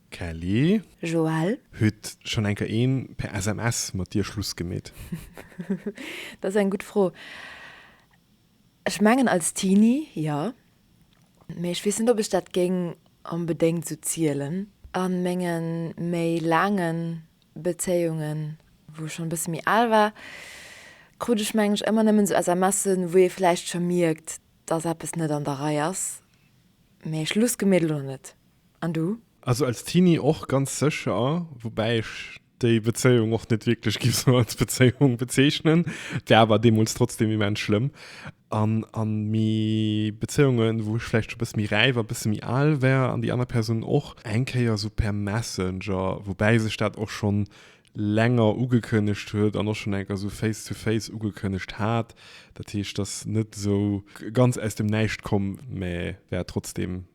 Kelly. Joël. Huet schonn eng Kéier een per SMS mat dir Schluss gemeet? Dat ass eng gutt Fro. Ech mengen als Teenie, jo. Mee ech weess net ob ech dat géing onbedéngt sou zielen. A menge méi laange Bezéiungen, wou ech schonn e bësse méi al war, krut ech menge ech ëmmer nëmmen sou SMSen, wou ee vläicht scho mierkt, datt eppes net an der Rei ass. Mee Schluss gemeet elo nach net. An du? Also als Teenie och ganz sécher, woubäi ech déi Bezéiung och net wierklech géif sou als Bezéiung bezeechnen. Et war awer deemools trotzdem immens schlëmm. An, an méi Bezéiungen, wou ech vläicht scho e bësse méi räif a e bësse méi al war an déi aner Persoun och, eng Kéier sou per Messenger, woubäi sech dat och schonn länger ugekënnegt huet an och schonn enker sou face to face ugekënnegt hat. Dat heescht, ass net esou ganz aus dem Näischt komm, mä war trotzdem.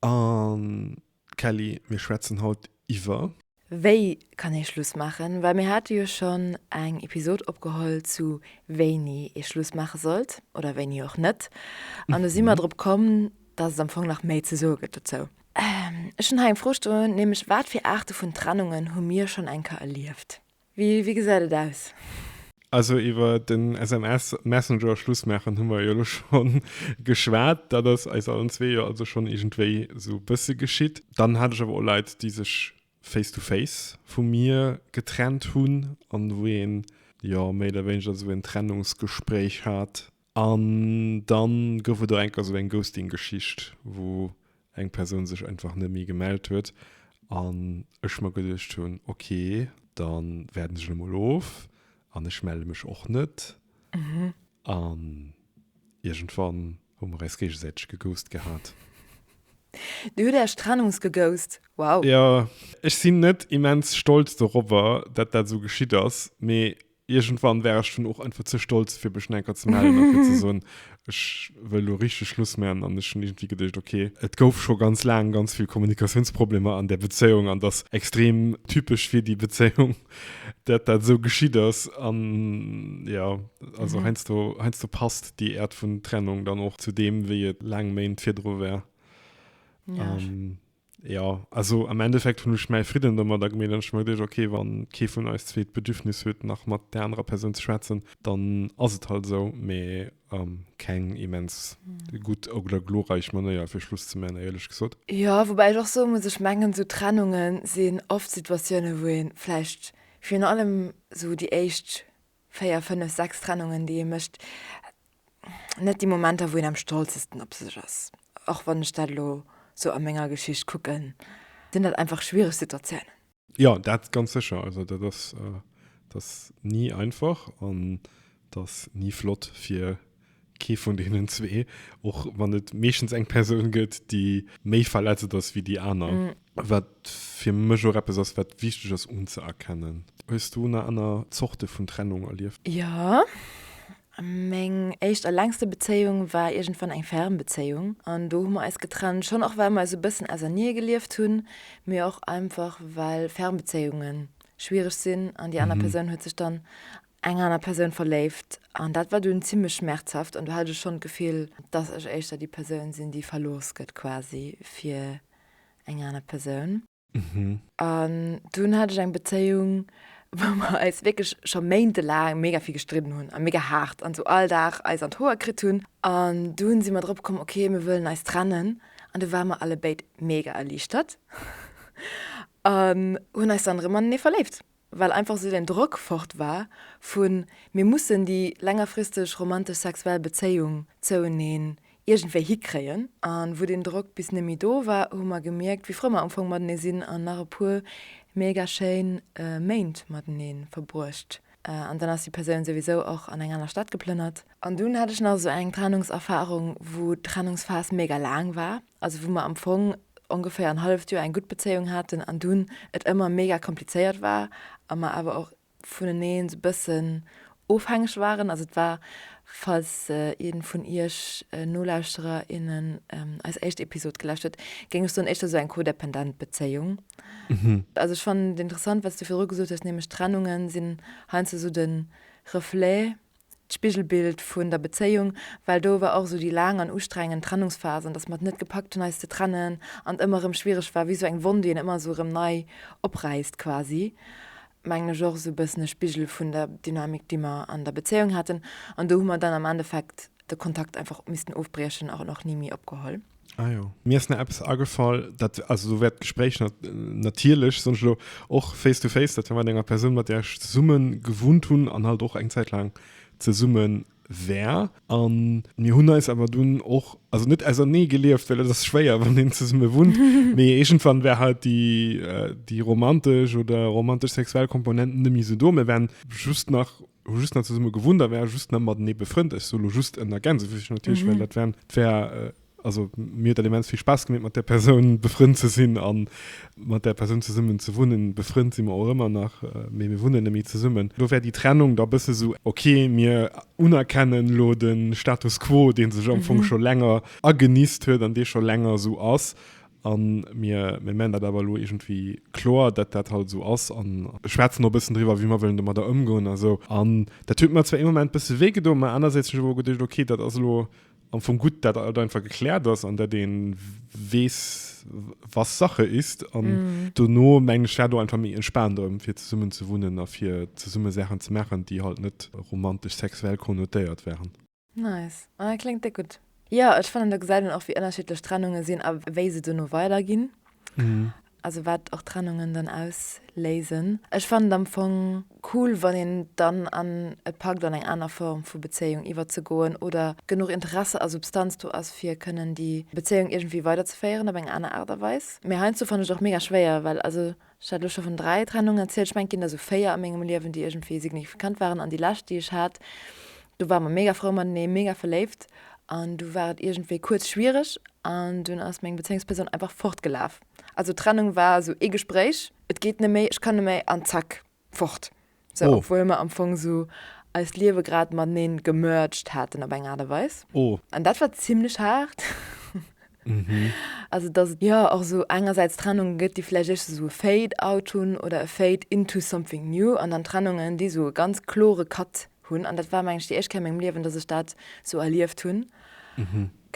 An Kelly, mir schwätzen haut iwwer. Wéi kann ee Schluss maachen? Well mir hate jo schonn eng Episod opgeholl zu wéini ee Schluss maache sollt oder wéini och net. An do si mer drop komm, dass et am Fong nach méi ze soe gëtt dozou. Ech hunn hei eng Fro stoen, nämlech, Wat fir Aarte vun Trennungen hu mir schonn eng Kéier erlieft? Wéi gesäit et aus? Also iwwer den SMS Messenger Schluss maachen hu mer jo elo scho geschwat. Dat ass eis allen zwee jo also schonn iergendwéi esou e bësse geschitt. Dann hat ech awer och Leit, déi sech face to face vu mir getrennt hunn an wou een jo méi oder wéineger esou en Trennungsgespréich hat. An dann gouf et och enker esou eng Ghosting-Geschicht, wou eng Persoun sech einfach net méi gemellt huet an ech mer geduecht hunn, ok, da waarden ech emol of an ech melle mech och net. An iergendwann hu mer eis géigesäiteg geghost gehat. Dir hutt Äerch trennungsgeghost? Wow! Jo, ech sinn net immens stolz dorobber, dat dat esou geschitt ass, mee Irgendwann wär ech dann och einfach ze stolz fir mech enker ze mellen a fir ze soen, ech wëll lo richteg Schluss man an ech hunn iergendwéi geduecht, ok, et gouf scho ganz laang ganz vill Kommunikatiounsproblemer an där Bezéiung an et ass extrem typesch fir déi Bezéiung, dat dat esou geschitt ass an jo, also heiansdo, heiansdo passt déi Äert vun Trennung dann och zu deem wéi et laang Méint virdru war. Jo, also am Endeffekt hunn ech mäi Fridden domadder gemeet an ech mer geduecht, okay, wann kee vun eis zwee d'Bedürfnis huet nach mat där anerer Persoun ze schwätzen, dann ass et halt esou, mee um keng immens gutt oder glorreich Manéier fir Schluss ze man, éierlech gesot. Jo, woubäi ech och soe muss, ech mengen esou Trennunge sinn oft Situatiounen wou een vläicht virun allem esou déi éischt Véier, fënnef, sechs Trennungen, déi ee mécht. Net déi Momenter, wou een am stolzesten op sech ass. Och wann ech dat elo sou a menger Geschicht kucken, sinn dat einfach schwiereg Situatiounen. Jo, dat ganz sécher. Also dat ass, dat ass ni einfach an dat ass ni flott fir Kee vun deenen zwee, och wann et meeschtens eng Persoun gëtt, déi méi verletzend ass wéi déi aner. Wat fir mech och eppes ass, wat wichteg ass unzëerkennen. Hues du nach aner Zorte vun Trennung erlieft? Jo. Meng éischt a längste Bezéiung war iergendwann eng ferm Bezéiung. An do hu mer eis getrennt. Schonn och, well mer esou e bëssen ausernee gelieft hunn, mee och einfach, well ferm Bezéiunge schwiereg sinn an déi aner Persoun huet sech dann eng aner Persoun verléift an dat war dunn zimlech schmerzhaft an do hat ech schonn d'Gefill, dass ech éischter déi Persoun sinn, déi verlooss gëtt quasi fir eng aner Persoun. An dunn hat ech eng Bezéiung, wou mer eis wierklech scho méintelaang mega vill gestridden hunn a mega haart an esou all Dag eis an d'Hoer kritt hunn. An dunn si mer drop komm, okay, mir wëllen eis trennen an du ware mer allebéid mega erliichtert an hunn eis dann erëm anenee verléift. well einfach esou den Drock fort war vu mir mussen déi längerfristeg romantesch sexuell Bezéiung zoueneen iergendwéi hikréien. A wou deen Drock bis net méi do war, hu mer gemierkt, wéi frou mer am Fong matenee sinn an nach e puer mega schéin Méint matenee verbruecht. An dann ass déi Persoun souwisou och an eng aner Stad geplënnert. An dunn hat ech nach esou eng Trennungserfarung, wou d'Trennungsphas mega laang war. also wou mer am Fong ongeféier en halleft Joer eng gutt Bezéiung haten an dunn et ëmmer mega komplizéiert war a mer awer och vuneneen esou e bëssen ofhängeg waren. Also et war, falls ee vun iech Nolauschterer, innen eis éischt Episod gelauscht huet, géing ech soen, éischter esou eng codependent Bezéiung. Also ech fannen et interessant, wat s du virdru gesot hues, nämlech d'Trennunge sinn heiansdo esou de Reflet d'Spigelbild vun der Bezéiung, well do war och esou déi laang an ustrengend Trennungsphase an dass mer et net gepackt hunn eis ze trennen an et ëmmer erëm schwiereg war, wéi esou eng Wonn déi een ëmmer esou erëm nei opräisst quasi, mengen ech och esou e bëssen e Spigel vun der Dynamik déi mer an der Bezéiung haten an do hu mer dann am Endeffekt de Kontakt einfach missten ofbriechen an och ni méi opgeholl. Ah jo. Mir ass nach eppes agefall, dat, also esou wäert d'Gespréich nat, natierlech, soen ech elo, och face to face, dat war mat enger Persoun, mat där ech zesumme gewunnt hunn an halt och eng Zäit laang zesumme war. A mir hunn eis awer dunn och, also net ausernee gelieft, well et ass schwéier, wann een zesumme wunnt, mee iergendwann war halt déi, déi romantesch oder romantesch-sexuell Komponent net méi esou do. Mir waren just nach. hu just net zesumme gewunnt a ware just net matenee befrënnt. Ech soe lo just en ergänze fir sech natierlech, well dat wären, dat wär, also mir huet dat immens vill Spaass gemeet, mat där Persoun befrënnt ze sinn a mat där Persoun zesummen ze wunnen. Befrënnt si mer och ëmmer nach, mee mir wunnen net méi zesummen. Do wär déi Trennung da bësse sou, ok, mir unerkennen lo de Status quo, dee sech am Fong scho länger agenisst huet an dee scho länger sou ass, A mir mengen dat awer elo iergendwéi kloer, datt dat halt esou ass a. Schwätzen och e bëssen driwwer, wéi mer wëllen domadder ëmgoen a sou. An dat huet mer zwar ee Moment e bësse wéi gedoen, mä anersäits hunn ech awer geduecht, okay, dat ass elo am Fong gutt, datt alt einfach gekläert ass an datt ee weess, was Sache ist. An dono mengen ech, war do einfach méi entspaant erëm, fir zesummen ze wunnen a fir zesumme Saachen ze maachen, déi halt net romantesch-sexuell konnotéiert waren. Nice. Ah, kléngt déck gutt. Jo, ech fannen, do gesäit een och, wéi ënnerschiddlech Trennunge sinn a wéi se duerno weiderginn. Also wat och Trennungen dann ausléisen. Ech fannen et am Fong cool, wann een dann an et packt, an eng aner Form vu Bezéiung iwwerzegoen oder genuch Interesse a Substanz do ass, fir kënnen déi Bezéiung iergendwéi weiderzeféieren op eng aner Aart a Weis. Mee heiansdo fannen ech et och mega schwéier, well also. Ech hat elo scho vun dräi Trennungen erzielt. Ech mengen, et ginn der esou véier a mengem Liewen, déi iergendwéi signifikant waren. An déi lescht, déi ech hat, do ware mer mega frou matenee, mega verléift. An du war et iergendwéi kuerz schwiereg an dunn ass meng Bezéiungspersoun einfach fortgelaf. Also Trennung war esou ee Gespréich, et geet net méi, ech kann net méi an zack, fort. So, obwuel mer am Fong esou eist Liewe grad mateneen gemerged haten op eng Aart a Weis. Oh. An dat war zimlech haart. Also, dass et jo och esou engersäits Trennungen gëtt, déi vläicht éischters esou e Fade out hunn oder e Fade into something new an dann Trennungen, déi esou e ganz klore Cut hunn. An dat war, mengen ech, déi éischt Kéier a mengem Liewen, dass ech dat esou erlieft hunn.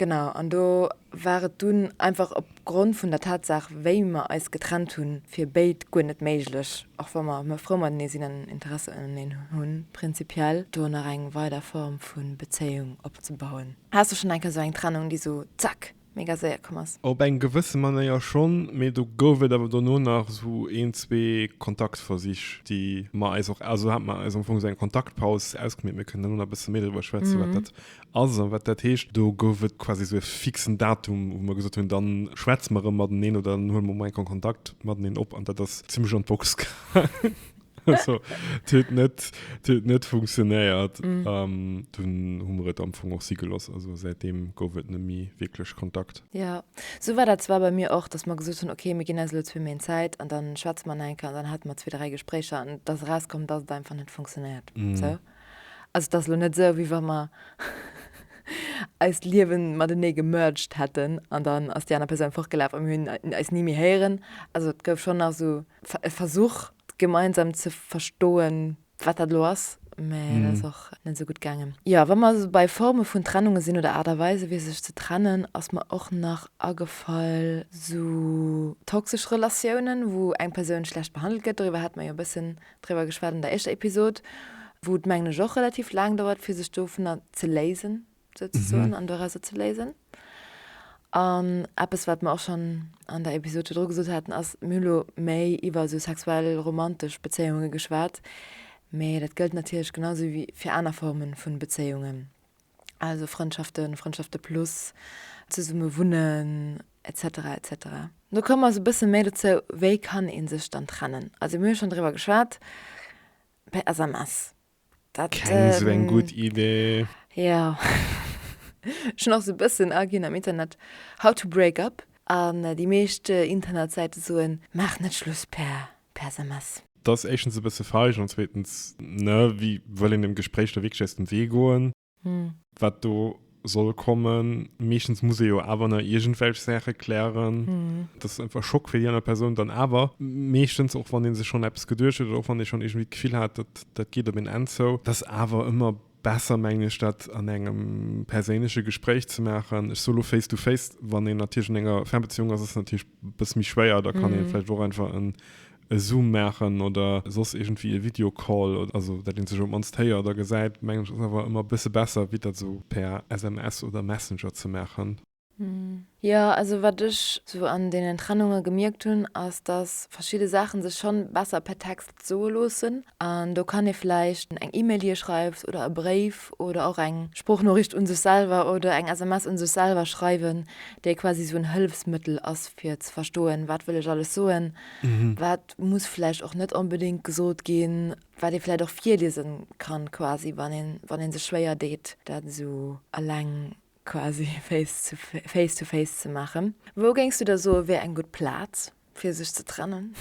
Genau, an do war et dunn einfach op Grond vun der Tatsaach, wéi mer eis getrennt hunn, fir béid guer net méiglech, och wa mer ëmmer frou matenee sinn an Interesse uneneen hunn, prinzipiell do nach eng weider Form vu Bezéiung opzebauen. Haas du schonn eng Kéier esou eng Trennung, déi esou zack, mega séier komm ass? Op eng gewësse Manéier schonn, mee do gouf et awer dono nach esou een, zwee Kontaktversich, déi mer eis och, also hat mer eis am Fong esou eng Kontaktpaus ausgemeet. Mir kënnen dono nach e bësse méi driwwer schwätzen, wat dat ass an wat dat heescht. Do gouf et quasi esou e fixen Datum, wou mer gesot hunn, da schwätze mer erëm mateneen oder dann huele mer emol eng Kon Kontakt mateneen op an dat ass zimlech an d'Box gaangen. Also, et huet net, et huet net funktionéiert an dunn hu mer et am Fong och si gelooss. Also säitdeem gouf et net méi wierklech Kontakt. Jo, esou war dat zwar bei mir och, dass mer gesot hunn, okay, mir ginn eis elo zwee Méint Zäit an da schwätze mer nach eng Kéier an dann hate mer zwee, dräi Gespréicher an et ass erauskomm, dass et einfach net funktionéiert. Esou. Also et ass elo net esou, wéi wa mer eist Liewe matenee gemerged hätten an dann ass déi aner Persoun fortgelaf a mir hunn eis ni méi héieren. Also et gouf schonn nach esou e Versuch, gemeinsam ze verstoen, wat dat elo ass, mä dat ass och net esou gutt gaangen. Jo, wa mer esou bei Forme vun Trennunge sinn oder Aart a Weise fir sech ze trennen, ass mer och nach agefall esou toxesch Relatiounen, wou eng Persoun schlecht behandelt gëtt. Doriwwer hate mer jo e bëssen. driwwer geschwat an der éischter Episod, wou et mengen ech och relativ laang dauert fir sech dovunner ze léisen souzesoen an dorauser ze léisen. An eppes wat mer och schonn an der Episod virdru gesot haten ass, mir hunn elo méi iwwer esou sexuell romantesch Bezéiunge geschwat, mee dat gëllt natierlech genau esou wéi fir aner Forme vun Bezéiungen. also Frëndschaften, Frëndschaften plus zesumme wunnen etc etc. No komme mer sou bësse méi dozou, wéi kann ee sech dann trennen? Also mir hu schonn driwwer geschwat, per SMS. Dat, keng ähm, sou eng gutt Idee. Jo. Ech hunn och sou bëssen aginn am Internet, how to break up an déi meescht Internetsäite soen, maach net Schluss per per SMS. Dat ass éischtens e bësse feig an zweetens, ne, wie wëll een dem Gespréich da wierklech aus dem Wee goen, wat do soll kommen? Meeschtens muss ee jo awer nach iergendwelch Saache klären. Dat ass einfach e Schock fir déi aner Persoun dann awer meeschtens, och wann ee sech schonn eppes geduecht huet oder och wann ee schonn iergendwéi d'Gefill hat, dat geet op een Enn zou. Dat ass awer ëmmer Besser mengen ech dat an engem perséinleche Gespréich ze maachen. Ech sou lo face to face, wann een natierlech an enger Fernbeziehung ass, ass et natierlech e bësse méi schwéier, da kann een vläicht och einfach en e Zoom maachen oder soss iergendwéi e Videocall, also dat een sech op d'mannst héiert a gesäit, mengen ech ass awer ëmmer e bësse besser wéi dat sou per SMS oder Messenger ze maachen. Jo, also wat ech sou an deenen Trennunge gemierkt hunn, ass dass verschidde Saache sech schonn besser per Text soe loossen. An do kann ee vläicht eng E-Mail hir schreift oder e Bréif oder och eng Sproochnoriicht un sech selwer oder eng SMS un sech selwer schreiwen, déi quasi sou en Hëllefsmëttel ass fir ze verstoen, wat wëll ech alles soen, wat muss vläicht och net onbedéngt gesot ginn, wat ee vläicht och virliese kann quasi, wann ee sech schwéier deet dat esou eleng quasi face to face to face ze maachen. Wou géings du da soe wär eng gutt Plaz fir sech ze trennen,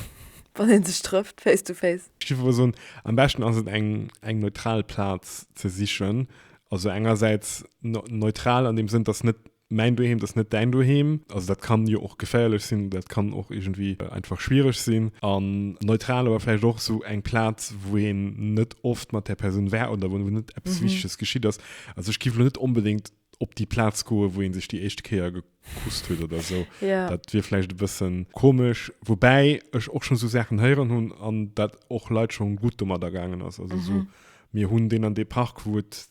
wann een sech trëfft face to face? Ech géif elo soen, am beschten ass et eng eng neutral Plaz ze sichen, also engersäits neutral an deem Sënn, dass net mäin Doheem, dass net däin Doheem, also dat kann jo och geféierlech sinn, dat kann och iergendwéi einfach schwiereg sinn, an neutral awer vläicht och esou eng Plaz wou een net oft mat där Persoun war oder wou net eppes Wichteges geschitt ass, Also ech giff lo net onbedéngt op déi Plaz goen, wou ee sech déi éischt Kéier gekusst huet oder sou. Ja. Dat wier vläicht e bëssen komesch. Woubäi ech och schonn sou Saachen héieren hunn an dat och Leit schonn gutt domadder gaangen ass. Also sou, mir hunn deen an dee Park, wou et,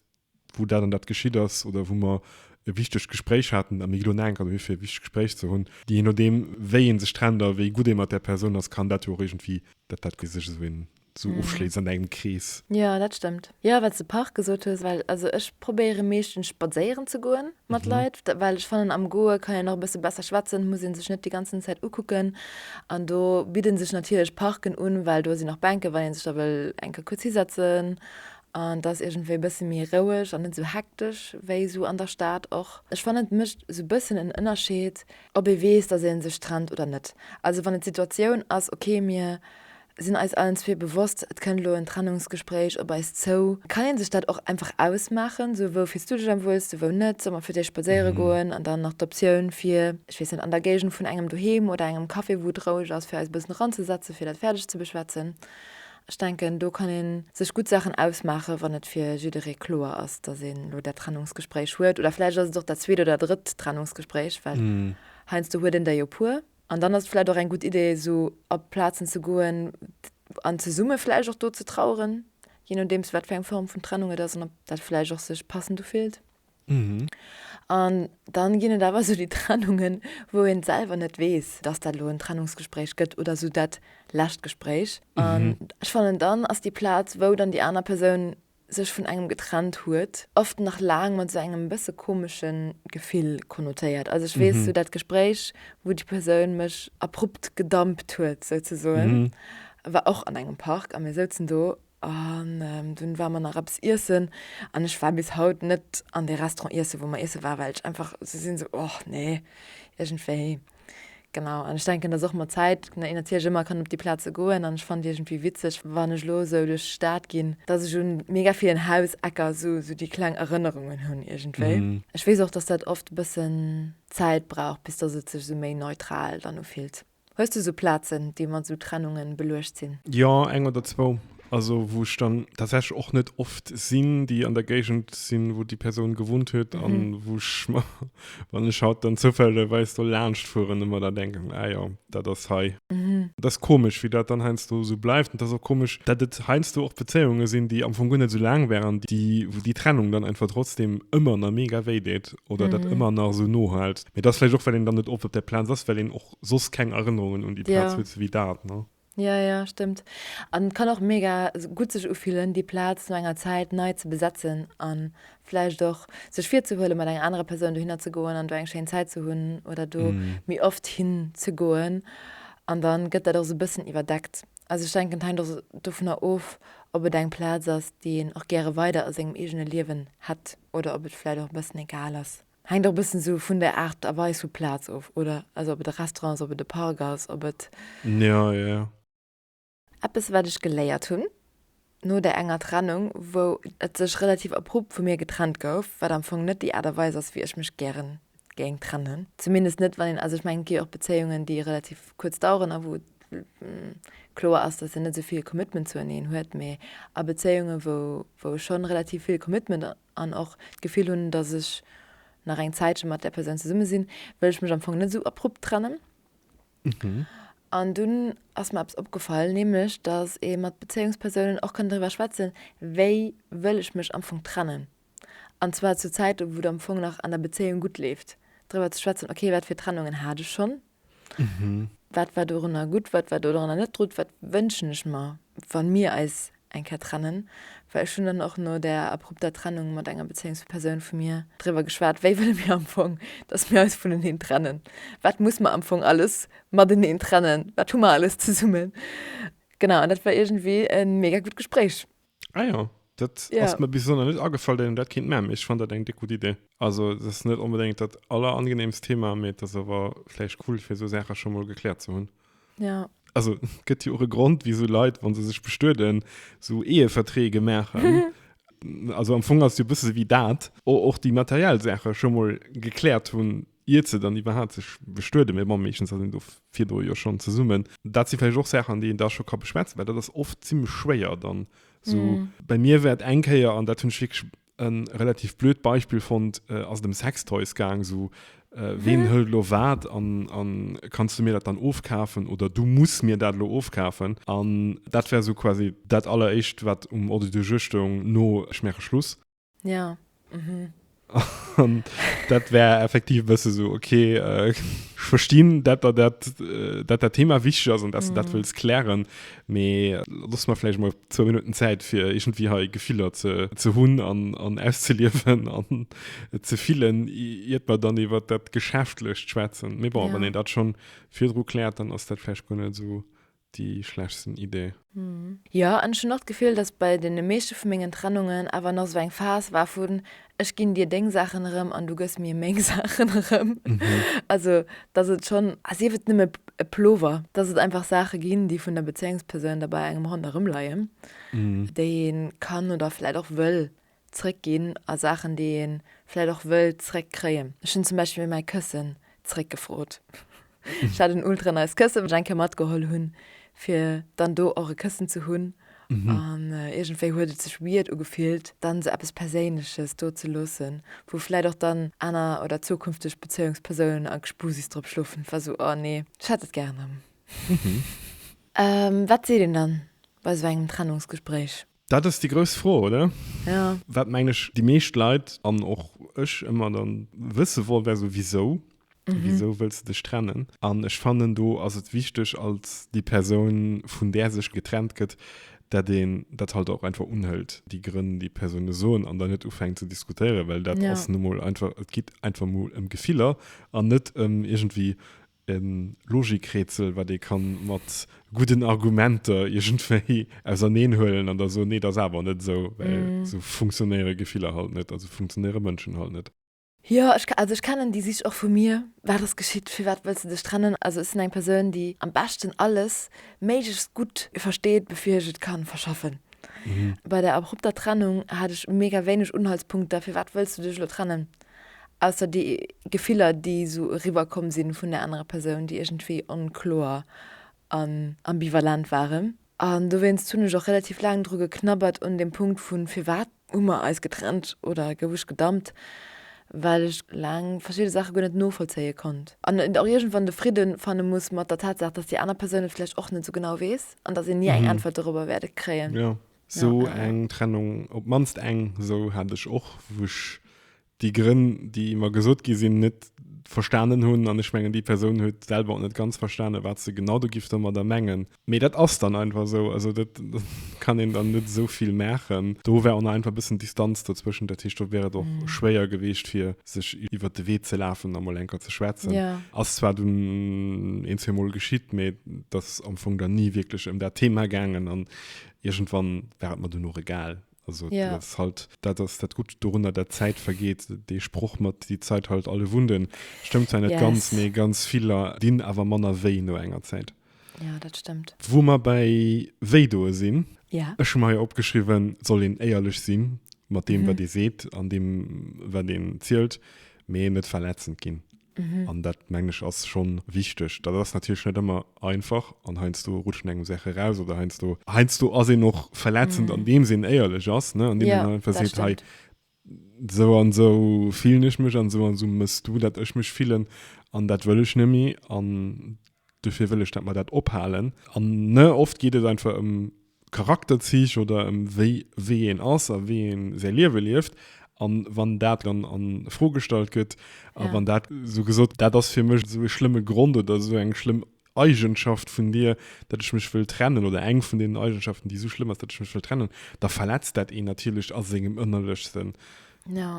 wou dat an dat geschitt ass oder wou mer e wichtegt Gespréich haten a mir gi lo naankert dohi fir e wichtegt Gespréich ze hunn. Je nodeem wéi ee sech trennt a wéi gutt ee mat där Persoun ass, kann dat jo och iergendwéi, dat dat sech esou een sou mm. ofschléits an engem Krees. Ja, dat stëmmt. Ja, wat de Park gesot hues, well also ech probéiere meeschtens spadséieren ze goen mat mhm. Leit, well ech fannen am Goe kann en och bësse besser schwätzen, muss en sech net die ganzen Zäit ukucken. An do bidden sech natierlech Parken un, well do sinn nach Bänke, wann en sech da wëll enke kurz hisetzen. An dat irgendwéi bësse méi roueg an net so hektesch wéi so an der Stad och. Ech fan et mëcht so bëssen en Ënnerscheed, ob ee weess, dat en sech trennt oder net. Also wann et Situatioun ass okay mir sinn eis allen zwee bewosst, et kënnt elo en Trennungsgespréich op eis zou, kann een sech dat och einfach ausmaachen, sou wou fills du dech am wuelste, wou net, soll mer fir d'éischt spadséiere goen an dann nach d'Optioun fir, ech weess net, an der Géigend vun engem doheem oder engem Café wou et roueg ass, fir eis e bëssen eranzesetzen, fir dat fäerdeg ze beschwätzen. Ech denken do kann ee sech gutt Saachen ausmaachen, wann et fir jidderee kloer ass, datt een elo dat Trennungsgespréich huet, oder vläicht ass et och dat zweet oder drëtt Trennungsgespréich, well heiansdo huet een der jo e puer. An dann ass et vläicht och eng gutt Idee, esou a Plazen ze goen an zesumme vläicht och do ze traueren, jee nodeems, wat fir eng Form vun Trennung et ass an ob dat vläicht och sech passend ufillt. An dann ginn et awer esou déi Trennungen, wou een selwer net weess, dass dat elo en Trennungsgespréich gëtt oder esou dat lescht Gespréich. An ech fannen, dann ass déi Plaz, wou dann déi aner Persoun sech vun engem getrennt huet, oft nach laang mat esou engem bësse komesche Gefill konnotéiert. Also ech weess, sou dat Gespréich, wou déi Persoun mech abrupt gedumpt huet, souzesoen, war och an engem Park a mir souzen do an dunn ware mer nach eppes iessen an ech war bis haut net an dee Restaurant iesse wou mer iesse waren, well ech einfach esou sinn, sou, och nee, iergendwéi. Genau, an ech denken, dass och mat Zäit een natierlech ëmmer kann op déi Plaze goen an ech fand iergendwéi witzeg, wann ech elo esou duerch d'Stad ginn, dass ech u mega villen Hausecker esou esou déi kleng Erënnerungen hunn iergendwéi. Ech weess och, dass dat oft e bëssen Zäit brauch, bis dass et sech esou méi neutral dann ufillt. Hues du esou Plazen, déi mat esou Trennunge beluecht sinn? Jo, eng oder zwou. Also wou ech dann tatsächlich och net oft sinn, déi an der Géigend sinn, wou déi Persoun gewunnt huet an mhm. wou ech ma, wann ech haut dann zoufälleweis do laanscht fueren, ëmmer da denken, ah ja, dat ass hei. Mhm. Das komisch, wie dat dann heinsdo so bleibt und das auch komisch, dat et heinsdo och Beziehungen sinn, die am Fong gunnne so lang wären, die wo die Trennung dann einfach trotzdem ëmmer na mega wéi deet oder mhm. dat ëmmer nach so no halt. Mir das vielleicht och well den dann net op op der Plan ass, well den och sos keng Erinnerungen und die Platz ja. huet wie dat. Ne? Ja ja stëmmt an et kann och mega gutt sech ufillen déi Plaz no enger Zäit nei ze besetzen an vläicht och sech virzehuelen mat enger anerer Persoun dohinner ze goen an do eng schéin Zäit ze hunn oder do méi oft hin ze goen an dann gëtt dat och sou bëssen iwwerdeckt. Also ech denken et hänkt och dovunner of ob et eng Plaz ass déi een och gäre weider a sengem eegene Liewen hätt oder ob et vläicht och e bëssen egal ass. Hänkt och e bëssen esou vun der Art a Weis vu Plaz of, oder? Also ob et e Restaurant ass, ob et e Park ass, ob et. Ja, ja, ja. Eppes wat ech geléiert hunn no där enger Trennung, wou et sech relativ abrupt vu mir getrennt gouf, wat am Fong net déi Art a Weis ass wéi ech mech gären géing trennen, zumindest net wann een, also ech mengen et gi och Bezéiungen déi relativ kuerz daueren a wou kloer ass datt een net esou vill Commitment zueneen huet, mee a Bezéiungen wou wou ech schonn relativ vill Commitment an och d'Gefill hunn, dass ech nach eng Zäitche mat där Persoun zesumme sinn, wëll ech mech am Fong net esou abrupt trennen. An dunn ass mer eppes opgefall, nämlech dass ee mat Bezéiungspersounen och kann driwwer schwätzen, wéi wëll ech mech am Fong trennen, an zwar zu Zäiten, wou et am Fong nach an der Bezéiung gutt leeft, driwwer ze schwätzen, okay, wat fir Trennungen hat ech schonn, Mhm. Wat war dorunner gutt, wat war dorunner net drut, wat wënschen ech mer, wann mir eis eng Kéier trennen? Well ech hunn dann och no där abrupter Trennung mat enger Bezéiungs vu Persoun vu mir driwwer geschwat, wéi wëlle mir am Fong, dass mir eis vuneneen trennen? Wat muss mer am Fong alles mateneen trennen? Wat hu mer alles zesummen? Genau, an dat war iergendwéi e mega gutt Gespréich. Ah ja, dat ja. ass mir bis so net agefall, dat dat kind mä ech fan dat eng de gut Idee. Also das net unbedingt dat aller angenehms Thema me das awer fleich cool fir so Sache schon mal geklärt ze hunn. Ja. Also gëtt jo och e Grund wie so Leiit wann se sech bestueden so ehe vertree gemerchen. also am Fong ass du bist wie dat och die materiell Sache schon mal geklärt hunn iert se dann iwwerhaapt sech bestueden, mee bon, meeschtens ass een do virdru jo schonn zesummen. Dat si vläicht och Saachen, an déi een da scho ka beschwätzen, well dat ass oft zimmlech schwéier dann esou. Bei mir war et eng Kéier, an dat hunn ech wierklech e relativ blöd Beispill fonnt, ass et ëm Sextoys gaang, esou, ween hëlt elo wat an a kanns du mir dat dann ofkafen oder du muss mir dat elo ofkafen. An dat war esou quasi dat alleréischt, wat um Ordre du jour stoung no Ech maache Schluss. Ja. Mhm. Und dat wär effektiv bësse so okay äh, verstinn dat dat dat äh, dat der Thema wichtig ass an dass mhm. dat wëlls klären mee äh, lass man vielleicht mal zwei Minuten Zeit fir irgendwie ha Gefiller ze ze hunn an an auszeliefen an äh, ze fillen iert man dann iwwer dat geschäftlecht schwätzen mé bon ja. wann en dat schon virdro klärt dann ass dat vielleicht gonne so déi schlechtsten Idee. Jo, an ech hunn och d'Gefill, dass bei deene meeschte vu mengen Trennungen awer nach esou eng Phas war vun, ech ginn dir deng Saachen erëm an du gëss mir meng Saachen erëm. Also, dass et schonn, a sief et nëmme e Plover, dass et einfach Saache ginn, déi vun der Bezéiungspersoun da bei engem ronderëm leien, déi ee kann oder vläicht och wëll Zréck ginn a Saachen, déi ee vläit och wëll zréck kréien. Ech hunn zum Beispill mäi Këssen zréck gefrot. Ech hat en ultra nice Këssen, wat ech eng Kéier matgeholl hunn, fir dann do och e Këssen ze hunn. An iergendwéi huet et sech weird ugefillt, dann esou eppes Perséinleches do ze loossen, wou vläit och dann aner oder zukünfteg Bezéiungspersounen a Gespusis drop schlofen. Et war esou, oh nee, ech hätt et gär erëm. Wat seet een dann bei esou engem Trennungsgespréich? Dat ass déi grouss Fro, oder? Jo. Wat, mengen ech, déi meescht Leit, an och ech, ëmmer da wësse wollt, wär esou, Wisou? Wisou wëlls de dech trennen? An ech fannen, do ass et wichteg, als déi Persoun, vun där sech getrennt gëtt, dat een dat halt och einfach unhëlt, déi Grënn, déi d'Persoune soen, an dann net ufänkt ze diskutéieren, well dat ass nu mol einfach, et geet einfach mol ëm Gefiller an net ëm iergendwéi E Logikrätsel, wat ee ka mat gudden Argumenter iergendwéi auserneen huelen an da soen, nee, dat ass awer net esou, well esou funktionéiere Gefiller halt net a sou funktionéiere Mënschen halt net. Jo, ech, also ech kennen déi Sich och vu mir, Wat ass geschitt? Firwat wëlls de dech trennen? Also ech sinn eng Persoun, déi am beschten alles méiglechst gutt versteet, bevir ech et ka verschaffen. Bei der abrupter Trennung hat ech mega wéineg Unhaltspunkter, Firwat wëlls du dech elo trennen? Ausser déi Gefiller, déi esou eriwwerkomm si vun der anerer Persoun, déi iergendwéi onkloer an ambivalent waren. An dowéinst hunn ech och relativ laang dru geknabbert un deem Punkt vu firwat hu mer eis getrennt oder gouf ech gedumpt, well ech laang verschidde Saache guer net novollzéie konnt an et och iergendwann de Fridde fanne muss mat der Tatsaach, dass déi aner Persoun et vläicht och net esou genau weess an dass een ni eng Äntwert dorobber wäerte kréien. So eng Trennung, op d'mannst eng esou, hat ech och, wou ech déi Grënn, déi mer gesot gi sinn, net verstanen hunn. An ech mengen, déi Persoun huet selwer och net ganz verstanen, wat se genau do géif domadder mengen. Mee dat ass dann einfach esou. Also do kann een dann net esou vill maachen. Do war och nach einfach e bëssen Distanz dozwëschen. Dat heescht, do wär et och schwéier gewiescht, fir sech iwwer de Wee ze lafen a mol eng Kéier ze schwätzen. Ass zwar dunn een, zweemol geschitt, mee et ass am Fong dann ni wierklech ëm dat Thema gaangen. An Irgendwann war et mer dunn och egal. Also yeah. dat ass halt dat ass dat gutt dorunner dat Zäit vergeet dee Sproch mat déi Zäit halt alle Wunden stëmmt zwar net yes. ganz méi ganz Viller dinn awer manner wéi no enger Zäit. Ja dat stëmmt. Wou mer bei wéi doe sinn yeah. Ech hu meier opgeschriwen soll een éierlech sinn mat deem mhm. wat dee seet an deem wat deen zielt mee net verletzend ginn. An dat, mengen ech, ass scho wichteg. Dat ass natierlech net ëmmer einfach an heiansdo rutscht een engem Saache raus oder heiansdo, heiansdo ass een och verletzend, andeems een éierlech ass, ne, andeems een einfach seet, hei, esou an esou fillen ech mech an esou an esou mëss du, datt ech mech fillen an dat wëll ech net méi. An Duerfir wëll ech dat mer dat ophalen. An ne, oft geet et einfach ëm Charakterzich oder ëm wéi wéi een ass a wéi een säi Liewe lieft. An wann dat dann an Fro gestallt gëtt a wann dat esou gesot, dat ass fir mech esou e schlëmme Grond oder esou eng schlëmm Eigenschaft vun dir, datt ech mech wëll trennen oder eng vun deenen Eigenschaften, déi esou schlëmm ass, datt ech mech wëll trennen, da verletzt dat een natierlech a sengem Ënnerlechsten.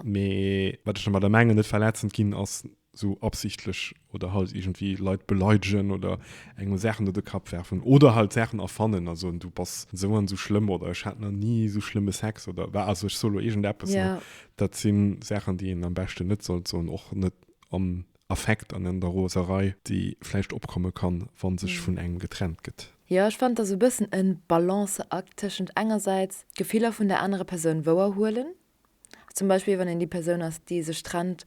Mee wat ech domadder mengen, net verletzend ginn, ass sou absichtlech oder halt iergendwéi Leit beleidegen oder engem Saachen op de Kapp werfen oder halt Saachen erfannen a soen, du bass sou an sou schlëmm oder ech hat nach ni sou schlëmme Sex oder wa also ech sou lo iergendeppes, ne? Yeah. Dat si Saachen, déi een am beschten net sollt soen, och net am Affekt an an der Roserei, déi vläicht opkomme kann, wa sech vun engem getrennt gëtt. Jo, ech fannen, et ass sou e bëssen e Balanceakt tëschent engersäits d'Gefiller vun der anerer Persoun wouerhuelen, zum Beispill wann een déi Persoun ass déi sech trennt,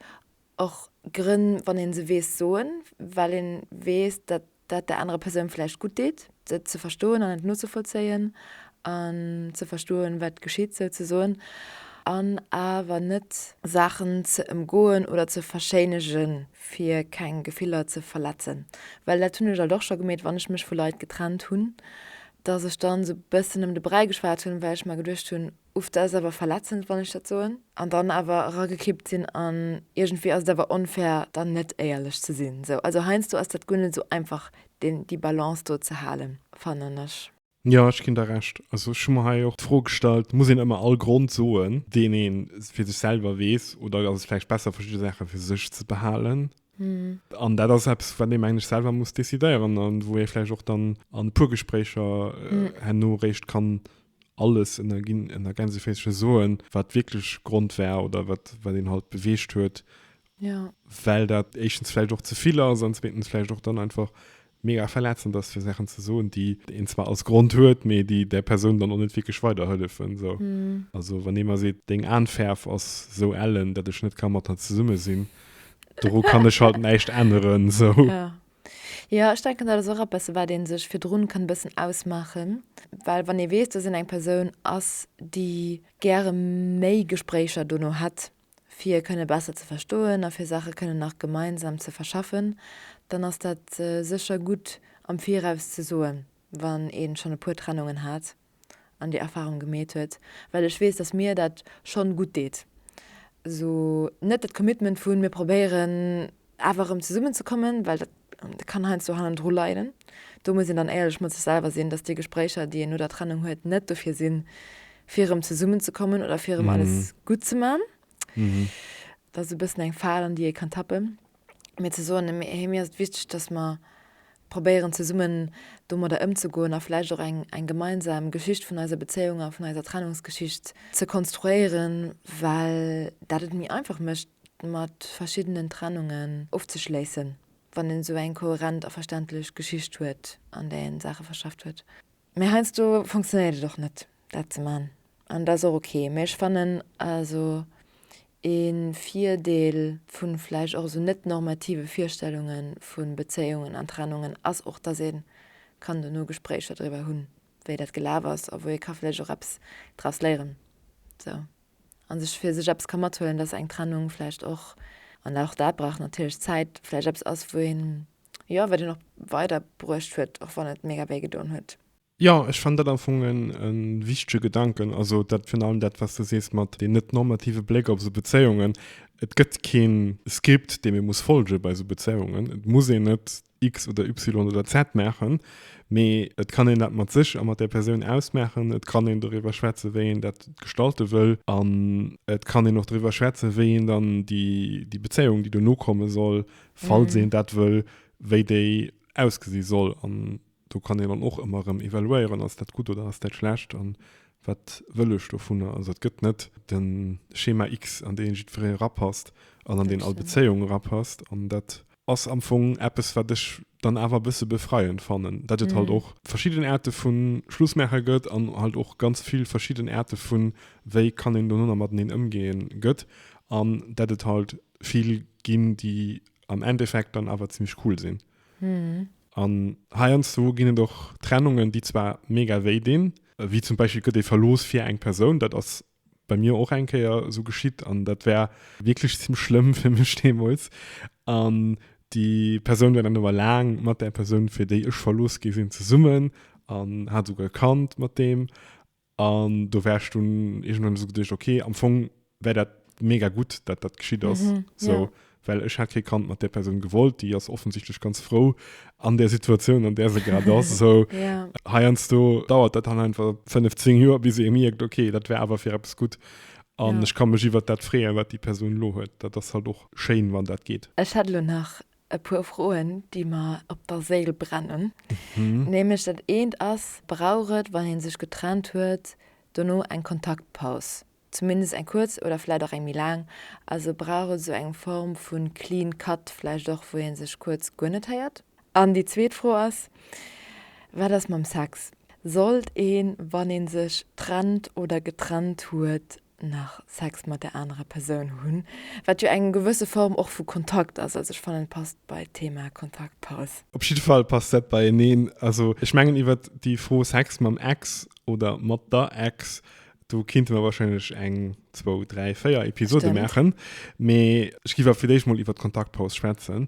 och Grënn wann ee se weess soen, well ee weess datt dat der anerer Persoun vläicht gutt deet et ze verstoen an et nozevollzéien an ze verstoen wat geschitt souzesoen an awer net Saachen ze ëmgoen oder ze verschéinege fir keng Gefiller ze verletzen, well dat hunn ech alt och scho gemeet wann ech mech vu Leit getrennt hunn, datt ech dann esou e bëssen ëm de Bräi geschwat hunn, well ech mer geduecht hunn, Uff, dat ass awer verletzend, wann ech dat soen an dann awer eragekippt sinn an iergendwéi ass et awer onfair, dann net éierlech ze sinn. Sou, also heiansdo ass dat guer net esou einfach, deen, déi Balance do ze halen, fannen ech. Jo, ech ginn der Recht. Also ech hu mer hei och d'Fro gestallt, muss een ëmmer all Grond soen, deen ee fir sech selwer weess oder ass et vläicht besser, verschidde Saache fir sech ze behalen? An dat ass eppes, wat ee mengen ech selwer muss decidéieren a wou ee vläicht och dann an e puer Gespréicher herno réischt kann alles ënner ginn, ënner Gänseféissercher soen, wat de wierkleche Grond war oder wat, wat een halt beweegt huet, well dat éischtens vläicht och ze vill ass an zweetens vläicht och dann einfach mega verletzend ass, fir Saachen ze soen, déi een zwar als Grond huet, mee déi där Persoun dann och net wierklech weiderhëllefen. Also wann ee mer seet, deng Aenfäerf ass esou ellen, datt ech net ka mat der zesumme sinn, doru kann ech halt näischt änneren. Jo, ech denken dat ass och eppes wat een sech virdrun kann e bëssen ausmaachen, well wann ee weess dass een eng Persoun ass déi gäre méi Gespréicher dono hätt fir e kënne besser ze verstoen a fir Saache kënne nach gemeinsam ze verschaffen, dann ass dat sécher gutt am viraus ze soen wann een schonn e puer Trennungen hat. an déi Erfahrung gemeet huet, well ech weess, dass mir dat schonn gutt deet. Esou net dat Commitment vu mir probéieren awer erëm zesummen ze kommen, well dat kann heiansdo hannendru leiden. Do muss een dann éierlech mat sech selwer sinn, dass déi Gespréicher, déi een no der Trennung huet, net dofir sinn, fir erëm zesummen ze kommen oder fir erëm alles gutt ze man. Dat ass e bëssen eng Fal, an déi ee kann tappen. mir ze soen, hé, mir ass et wichteg, dass mer probéieren zesummen domadder ëmzegoen a vläicht och eng eng gemeinsam Geschicht vun eiser Bezéiung a vun eiser Trennungsgeschicht ze konstruéieren, well dat et méi einfach mécht mat verschiddenen Trennungen ofzeschléissen, wann een esou eng kohärent a verständlech Geschicht huet, an där een d'Saache verschafft huet. Mee heiansdo funktionéiert et och net, dat ze man. An dat ass och ok. Mee ech fannen also ee Virdeel vu vläicht och esou net-normative Virstellunge vu Bezéiungen an Trennungen ass och, dass ee kann dono Gespréicher driwwer hunn, wéi dat gelaf ass a wou ee ka vläicht och eppes draus léieren esou a sech fir sech eppes ka mathuelen, dass eng Trennung vläicht och, an och dat brauch natierlech Zäit, vläicht eppes ass, wou een Jo wat een och weider bruecht huet och wann et mega wéi gedoen huet. Jo ech fannen dat am Fong e wichtege Gedanken, also dat virun allem dat wat s de sees mat deen net normative Bléck op esou Bezéiungen. Et gëtt keen Script deem ee muss folge bei esou Bezéiungen. Et muss een net X oder Y oder Z maachen, mee et kann een dat mat sech a mat där Persoun ausmaachen. Et kann een doriwwer schwätze wéi een dat gestalte wëll an et kann een och doriwwer schwätze wéi een dann déi Bezéiung déi dono komme soll falls een dat wëll, wéi déi ausgesi soll. An do kann een dann och ëmmer erëm evaluéieren, ass dat gutt oder ass dat schlecht an wat wëll ech dovunner. Also et gëtt net de Schema X, an deen jiddweree erapasst an an deen all Bezéiung erapasst. An dat ass am Fong eppes, wat ech dann awer e bësse befreiend fannen, datt et halt och verschidden Aarte vu Schlussmaacher gëtt an halt och ganz vill verschidden Aarte vu wéi kann een donno nach mateneen ëmgeen gëtt an datt et halt vill ginn, déi am Endeffekt dann awer zimmlech cool sinn. Mhm. An heiansdo ginn et och Trennungen, déi zwar mega wéi dinn, wéi zum Beispill gëtt ee verlooss fir eng Persoun, dat ass bei mir och eng Kéier esou geschitt an dat war wierklech zimmlech schlëmm fir mech deemools. An déi Persoun war dann awer laang mat där Persoun, fir déi ech verlooss gi sinn, zesummen an hat esouguer e Kand mat deem. An do war ech dunn iergendwann esou geduecht, ok, am Fong war dat mega gutt, datt dat geschitt ass. Mhm, ja. Sou, well ech hat kee Kand mat där Persoun gewollt, déi ass offensichtlech ganz frou an där Situatioun, an där se grad ass. Sou, Ja. heiansdo dauert dat dann einfach fënnef, zéng Joer, bis ee mierkt, ok, dat war awer fir eppes gutt an Ja. ech ka mech iwwert dat freeën, wat déi Persoun elo huet. Dat ass halt och schéin, wann dat geet. Ech hätt elo nach e puer Froen, déi mer op der Séil brennen. Nämlech dat eent ass, Brauch et, wann ee sech getrennt huet, dono eng Kontaktpaus, zumindest eng kuerz oder vläicht och eng méi laang? Also brauch et esou eng Form vu clean cut vläicht och, wou ee sech kuerz guer net héiert? An déi zweet Fro ass, Wat ass mam Sex? Sollt een, wann ee sech trennt oder getrennt huet, nach Sex mat der anerer Persoun hunn, wat jo eng gewësse Form och vu Kontakt ass. Also ech fannen et passt bei d'Thema Kontaktpaus. Op jidde Fall passt dat beieneen. Also ech mengen iwwert déi Fro Sex mam Ex oder mat der Ex, do kinnte mer wahrscheinlech eng, zwou, dräi, véier Episode maachen. Mee ech giff awer fir d'éischt mol iwwert d'Kontaktpaus schwätzen,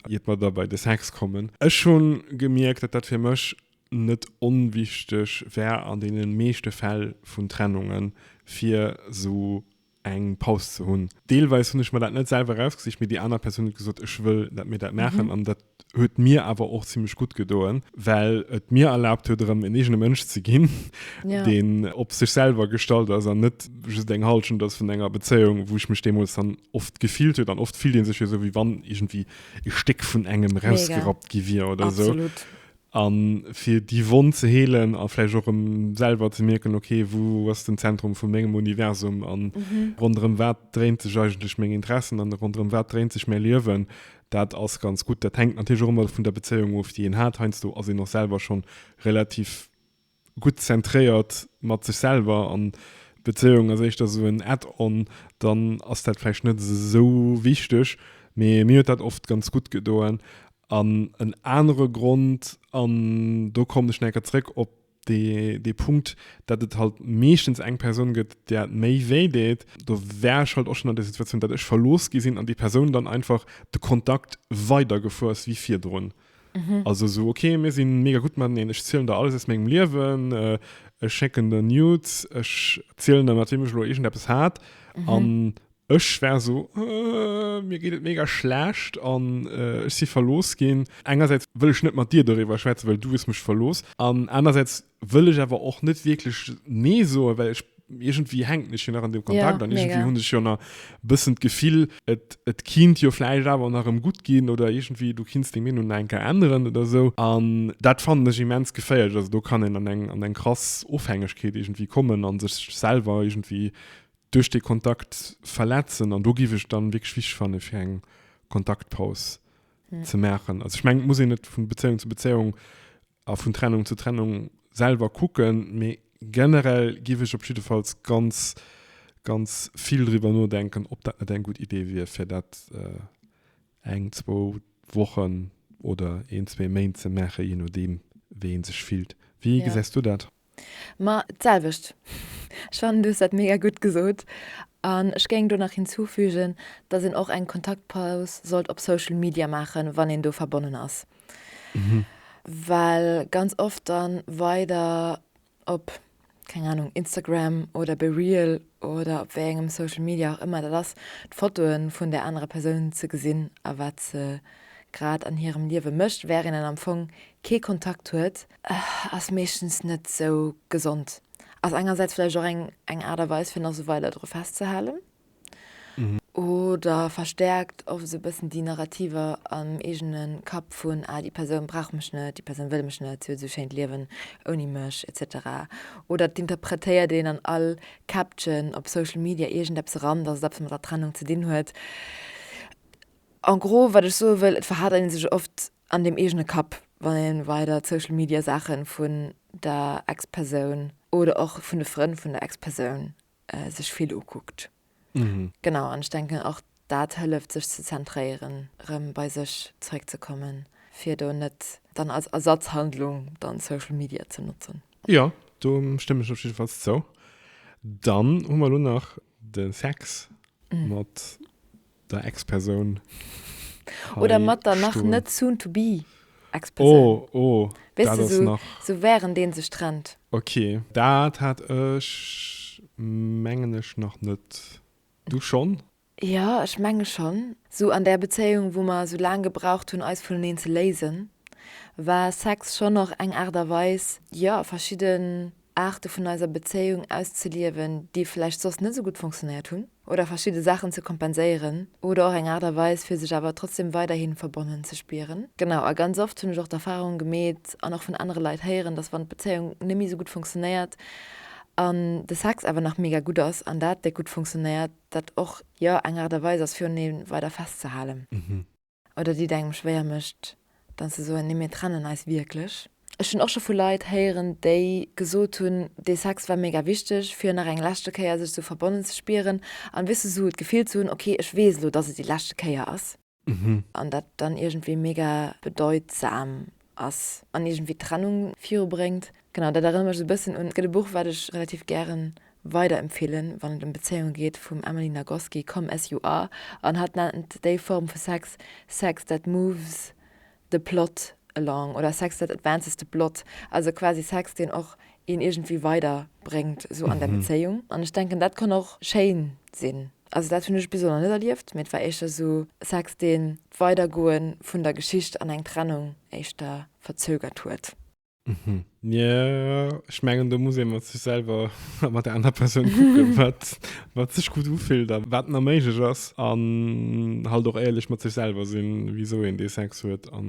iert mer da bei de Sex kommen. Ech hu gemierkt, datt dat fir mech net onwichteg wär an deene meeschte Fäll vun Trennungen, fir esou eng Paus ze hunn. Deelweis hunn ech mer dat net selwer erausgesicht, mee déi aner Persoun huet gesot, ech wëll, datt mir dat maachen. An dat huet mir awer och zimlech gutt gedoen, well et mir erlaabt huet, erëm en eegene Mënsch ze ginn, deen op sech selwer gestallt ass an net just eng Hallschent ass vun enger Bezéiung, wou ech mech deemools dann oft gefillt huet. An oft fillt ee sech jo esou, wéi wann iergendwéi e Stéck vun engem erausgerappt gi wier oder esou. A fir déi Wonn ze heelen a vläicht och erëm selwer ze mierken, ok, wou ass den Zentrum vu mengem Universum a ronderëm wat dréint sech eigentlech meng Interessen an ronderëm wat dréint sech mäi Liewen, dat ass ganz gutt. Dat hänkt natierlech och ëmmer vun der Bezéiung of, déi een hat. Heiansdo ass een och selwer schonn relativ. Gutt zentréiert mat sech selwer an d'Bezéiung ass éischter esou en Add-on, dann ass dat vläicht net esou wichteg. Mee mir huet dat oft ganz gutt gedoen. An en anere Grond, an do kommen ech nach eng Kéier zréck op dee Punkt, datt et halt meeschtens eng Persoun gëtt, där et méi wéi deet. Do war ech halt och schonn an der Situatioun, datt ech verlooss gi sinn an déi Persoun dann einfach de Kontakt weidergefu ass wéi virdrun. Mhm. Also so, okay, mir sinn mega gut mat neen, ech zielen der alles aus mengem Liewen, äh, ech schécken der Nudes, ech zielen der mat wem ech lo irgend eppes hat mhm. an ech wär so äh, mir geet et mega schlecht an äh, ech si verlos ginn. Engersäits wëll ech net mat dir doriwwer schwätzen, well du wis mech verlos an anersäits Wëll ech awer och net wierklech nee soen, well ech, iergendwéi hänken ech jo nach an deem Kontakt an iergendwéi hunn ech jo nach e bëssen d'Gefill, et, et kinnt jo vläicht awer nach erëm gutt ginn oder iergendwéi du kinns deng Meenung nach eng Kéier änneren oder esou. An dat fannen ech immens geféierlech. Also do kann een an eng, an eng krass Ofhängegkeet iergendwéi kommen a sech selwer iergendwéi duerch dee Kontakt verletzen. An do géif ech dann wierklech wichteg fanne fir eng Kontaktpaus ze maachen. Also ech mengen, et muss een net vu Bezéiung zu Bezéiung A vun Trennung zu Trennung selwer kucken. Mee generell giff ech op jiddefalls ganz, ganz vill driwwer nodenken, ob dat net eng gutt Idee wier, fir dat eng, zwou Wochen oder een, zwee Méint ze maachen, je nodeem, wéi ee sech fillt. Wéi gesäis du dat? Ma d'selwecht. Ech fannen du hues dat mega gutt gesot. An ech géing do nach hinzufügen, dass een och eng Kontaktpaus sollt op Social Media maachen, wann een do verbonnen ass. Well ganz oft dann weider op, keng Ahnung, Instagram oder BeReal oder op wéi engem Social Media och ëmmer dat ass, d'Fotoe vun där anerer Persoun ze gesinn a wat se grad an hirem Liewe mécht, während een am Fong kee Kontakt huet. Ass meeschtens net esou gesond. Ass engersäits vläicht och eng Aart a Weis fir nach sou weider dru festzehalen oder verstäerkt och esou e bëssen déi Narrativer am eegene Kapp vun, ah déi Persoun brauch mech net, déi Persoun wëll mech net, si huet esou e schéint Liewen ouni mech etc. Oder et interpretéiert een an all Caption op Social Media iergendeppes eran, dass et eppes mat der Trennung ze dinn huet. En gros wat ech soe wëll, et verhält een sech oft an dem eegene Kapp, wann ee weider d'Social Media Saache vun der Ex-Persoun oder och vun de Frënn vun der Ex-Persoun sech vill ukuckt. Genau, an ech denken och dat hëlleft sech ze zentréieren, rëm bei sech zeréckzekommen, fir do net dann als Ersatzhandlung dann Social Media ze notzen. Jo, do stëmmen ech op jiddefalls zou. Dann hu mer elo nach de Sex mat der Ex-Persoun hei stoen. Oder mat der nach net soon to be Ex-Persoun. Oh, oh, dat ass nach. Weess de, sou, sou wärend ee sech trennt. Ok, dat hat ech, mengen ech, nach net. Du schonn? Jo, ech menge schonn. Sou an där Bezéiung, wou mer sou laang gebraucht hunn, eis vuneneen ze léisen, war Sex schonn och eng Aart a Weis, jo, verschidde Aarte vun eiser Bezéiung auszeliewen, déi vläicht soss net esou gutt funktionéiert hunn, oder verschidde Saachen ze kompenséieren, oder och eng Aart a Weis, fir sech awer trotzdeem weiderhi verbonnen ze spieren. Genau, a ganz oft hunn ech och d'Erfarung gemeet an och vun anere Leit héieren, dass wann d'Bezéiung net méi esou gutt funktionéiert an de Sex awer nach mega gutt ass an dat déck gutt funktionéiert, dat och, jo, eng Aart a Weis ass, fir un ee weider festzehalen. Oder deet engem schwéier mécht, dann ze soen, nee mir trennen eis wierklech. Ech hunn och scho vu Leit héieren, déi gesot hunn, dee Sex war mega wichteg, fir nach eng leschte Kéier sech sou verbonnen ze spieren an, weess du, sou et Gefill ze hunn, ok, ech weess elo, dass et déi leschte Kéier ass. An dat dann iergendwéi mega bedeutsam. ass an iergendwéi d'Trennung virubréngt. Genau, dat erënnert mech esou e bëssen un, et gëtt e Buch, wat ech relativ gären weiderempfeelen, wann et ëm Bezéiunge geet, vum Emily Nagoski, Come As You Are, an hatt nennt déi Form vu Sex, Sex that moves the plot along oder Sex that advances the plot, also quasi Sex, deen och een iergendwéi weiderbréngt esou an der Bezéiung. An ech denken, dat kann och schéin sinn. Also dat hunn ech bis elo nach net erlieft, mee et war éischter esou Sex, dee d'Weidergoe vun der Geschicht an eng Trennung éischter verzögert huet. Jo, ech mengen, do muss ee mat sech selwer a mat der anerer Persoun kucken, wat sech gutt ufillt a wat nach méiglech ass. An halt och éierlech mat sech selwer sinn, wisou een dee Sex huet a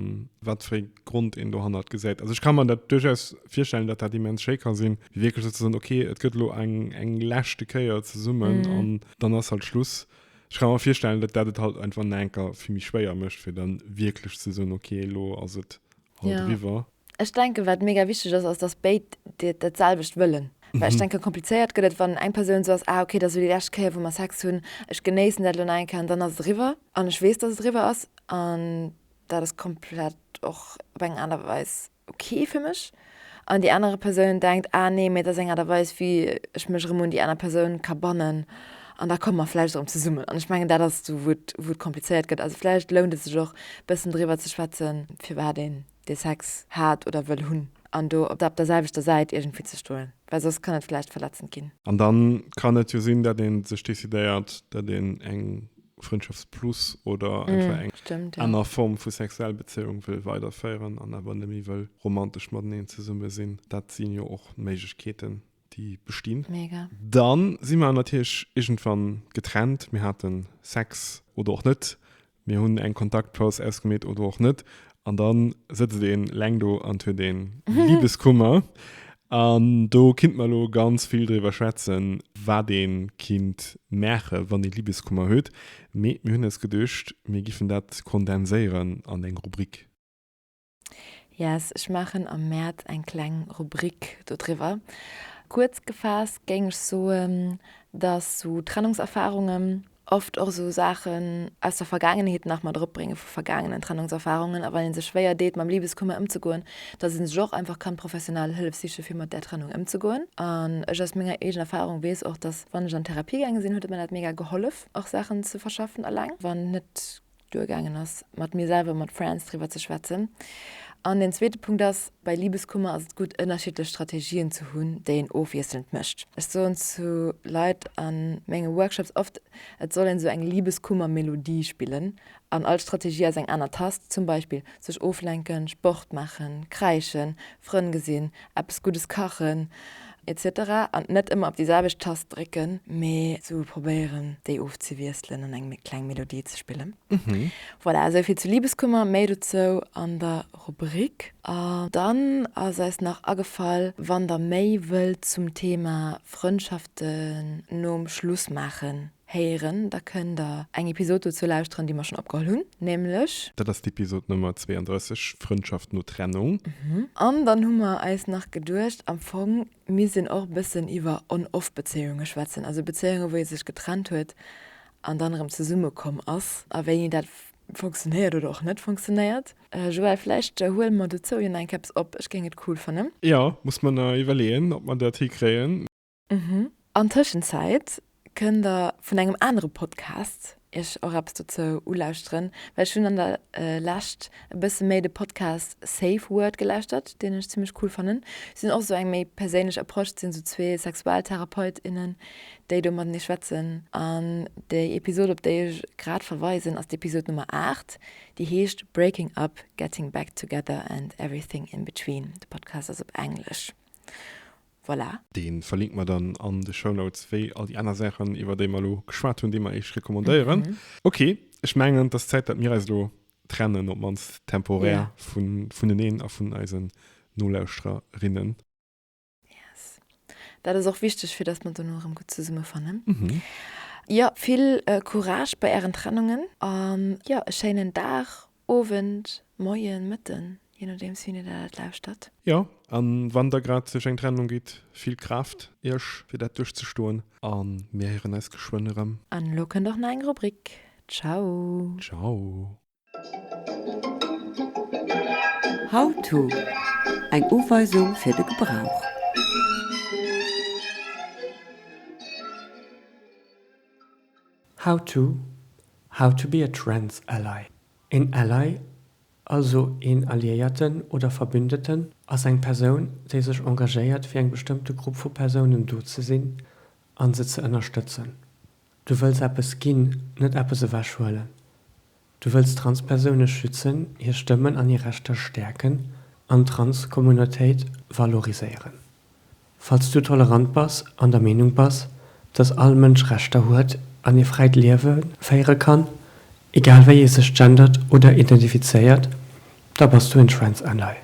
wat fir ee Grond een dohannert gesäit. Also ech kann man dat duerchaus virstellen, dat dat immens schéi ka sinn, wierklech sou ze soen, okay, et gëtt lo eng eng leschte Kéier zesummen mm. an dann ass halt Schluss. Ech kann man virstellen, dat dat et halt einfach enker fir mi schwéier mëcht, fir dann wierklech ze soen, okay, lo ass et halt ja. riwer. Ech denke wat mega wichteg ass, ass dass béid Dir dat selwecht wëllen. Well ech mhm. denke komplizéiert gëtt et, wann eng Persoun so ass, ah okay, dat sou déi lescht Kéier, wou mer Sex hunn, ech genéissen dat lo nach eng Kéier an dann ass et riwwer an ech weess, dass et riwwer ass an dat ass komplett och op eng aner Weis ok fir mech an déi anere Persoun denkt, ah nee, mee dat ass eng Aart a Weis wéi ech mech erëm un déi aner Persoun ka bannen an da komme mer vläicht erëm zesummen. An ech mengen dat ass do wou et wou et komplizéiert gëtt. Also vläicht lount et sech och e bëssen driwwer ze schwätzen, firwat een dee Sex hat oder wëll hunn an do op der selwechter Säit iergendwéi ze stoen, well soss kann et vläicht verletzend ginn. An da kann et jo sinn, dat ee sech decidéiert, dat een eng. Frëndschafts plus oder einfach eng Stimmt, ja. aner Form vu sexuell Bezéiung wëll weiderféieren an awer nëmme wëll romantesch mateneen zesumme sinn. Dat sinn jo och Méiglechkeeten, déi bestinn. Mega. Dann si mer natierlech iergendwann getrennt. Mir haten Sex oder och net. Mir hunn eng Kontaktpaus ausgemeet oder och net. An dann sëtzt een leng do an huet een Liebeskummer. An do kinnt mer elo ganz vill driwwer schwätzen, wat een kinnt maachen, wann een Liebeskummer huet. Mee mir hunn eis geduecht, mir giffen dat kondenséieren an eng Rubrik. Yes, ech maachen am Mäerz eng kleng Rubrik do driwwer. Kuerz gefaasst géing ech soen, dass sou Trennungserfahrungen, Oft och esou Saachen aus der Vergaangenheet nach mat eropbrénge vu vergaangenen Trennungserfarungen a wann ee sech schwéier deet mam Libeskummer ëmzegoen, dass ee sech och einfach kann professionell Hëllef siche fir mat där Trennung ëmzegoen. An ech aus menger eegener Erfarung weess och, dass wann ech an Therapie gaange sinn, huet et mer dat mega gehollef och Saachen ze verschaffen eleng, wann net duergaangen ass, mat mir selwer, mat Friends driwwer ze schwätzen. An den zweete Punkt ass, Bei Libeskummer ass et gutt, ënnerschiddlech Strategien ze hunn, déi een ofwiesselnd mécht. Ech soen zu Leit a menge Workshops oft, et soll een esou eng Libeskummer-Melodie spillen an all Strategie ass eng aner Tast, zum Beispill sech oflenken, Sport maachen, kräischen, Frënn gesinn, eppes Guddes kachen, Etc an net ëmmer op déi selwecht Tast drécken, mee sou probéieren déi ofzewiesselen an eng kleng Melodie ze spillen. Voilà, esou vill zu Liebeskummer, méi dozou an der Rubrik. A dann ass eis nach agefall, wann der méi wëllt zum Thema Frëndschaften nom Schluss maachen, Héieren, da kënnt der eng Episod dozou lauschteren, déi mer schonn opgeholl hunn, nämlech. Dat ass d'Episod Nummer 32, Frëndschaft no Trennung. An dann hu mer eis nach geduecht, am Fong misst een och e bëssen iwwer On-Off-Bezéiunge schwätzen, also Bezéiunge wou ee sech getrennt huet an dann erëm zesumme komm ass a wéini dat funktionéiert oder och net funktionéiert. Joël, vläicht huele mer dozou jo nach eng Kéiers op, ech géing et cool fannen. Jo, muss mer nach iwwerleeën, ob mer dat hikréien. Mhm. An Tëschenzäit kënnt der vun engem anere Podcast iech och eppes dozou ulauschteren, well ech hunn an der Lescht e bësse méi de Podcast Safe Word gelauschtert, deen ech zimmlech cool fannen. Si hunn och esou eng méi perséinlech Approche, et sinn esou zwee Sexualtherapeut, innen, déi do matenee schwätzen. An déi Episod, op déi ech grad verweisen, ass d'Episod Nummer 8, déi heescht Breaking Up, Getting Back Together and Everything in Between. De Podcast ass op Englesch. Voilà. Deen verlinken mer dann an de Shownotes, wéi all déi aner Saachen, iwwer déi mer elo geschwat hunn, déi mer iech recommandéieren. Ok, ech mengen, et ass Zäit, datt mir eis elo trennen, op d'mannst temporär, vuneneen a vun eisen Nolauschtererinnen. Yes. Dat ass och wichteg, fir datt mer dono erëm gutt zesummefannen. Jo, vill Courage bei ären Trennungen an jo, e schéinen Dag Owend, Moien, Mëtten, je nodeems wien Dir dat lauschtert. Jo, a wann da grad duerch eng Trennung gitt, vill Kraaft Iech fir dat duerchzestoen a mir héieren eis geschwënn erëm. An elo kënnt och nach eng Rubrik. Ciao. Ciao. How-to, Eng Uweisung fir de Gebrauch. How to How to be a trans ally Een Ally, also een Alliéierten oder Verbündeten, ass eng Persoun, déi sech engagéiert fir eng bestëmmte Grupp vu Persounen do ze sinn an se ze ënnerstëtzen. Du wëlls eppes ginn, net eppes ewechhuelen. Du wëlls Transpersoune schützen, hir Stëmmen an hir Rechter stäerken an d'Transcommunautéit valoriséieren. Falls du tolerant bass an der Meenung bass, dass all Mënsch Rechter huet an ee fräit Liewe féiere kann, egal wéi ee sech gendert oder identifizéiert, da bass du en Trans Ally.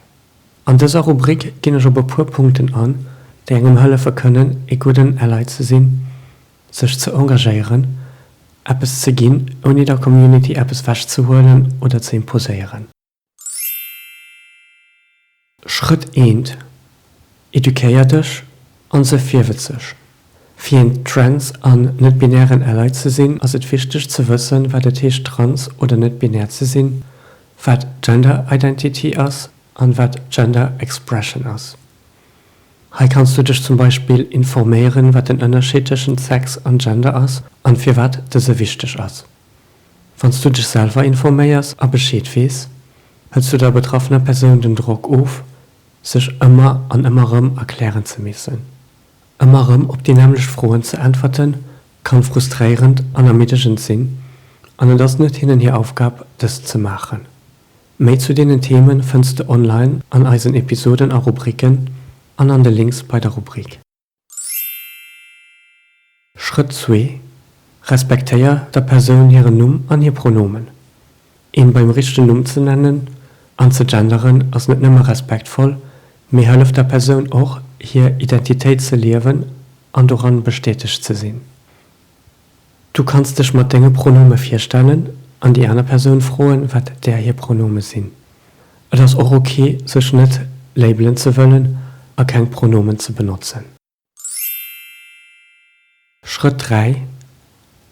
An dëser Rubrik ginn ech op e puer Punkten an, déi engem hëllefe kënnen, ee gudden Ally ze sinn. sech ze engagéieren, eppes ze ginn, ouni der Community eppes wech ze huelen oder ze imposéieren. Schrëtt 1, Educéier dech an se virwëtzeg. Fir een trans an net-binären Ally ze sinn, ass et wichteg ze wëssen, wat et heescht trans oder net-binär ze sinn, wat Gender Identity ass an wat Gender Expression ass. Hei kanns du dech zum Beispill informéieren, wat den Ënnerscheed tëschent Sex an Gender ass an firwat dëse wichteg ass. Wann s du dech selwer informéiers a Bescheed weess, hëls du der betraffener Persoun den Drock of, sech ëmmer an ëmmer erëm erklären ze missen. Ëmmer erëm op déi nämmlecht Froen ze äntwerten, kann frustréierend an ermiddegend sinn an et ass net hinnen hir Aufgab, dëst ze maachen. Méi zu deenen Themen fënns de online an eisen Episoden a Rubriken an an de Links bei der Rubrik. Schrëtt zwee, Respektéier der Persoun hiren Numm an hir Pronomen. Een beim richtegen Numm ze nennen an ze genderen ass net nëmme respektvoll, mee hëlleft der Persoun och hir Identitéit ze liewen an doran bestätegt ze sinn. Du kanns dech mat denge Pronome virstellen an déi aner Persoun froen, wat där hir Pronome sinn. Et ass och ok, sech net labelen ze wëllen a keng Pronomen ze benotzen. Schrëtt 3,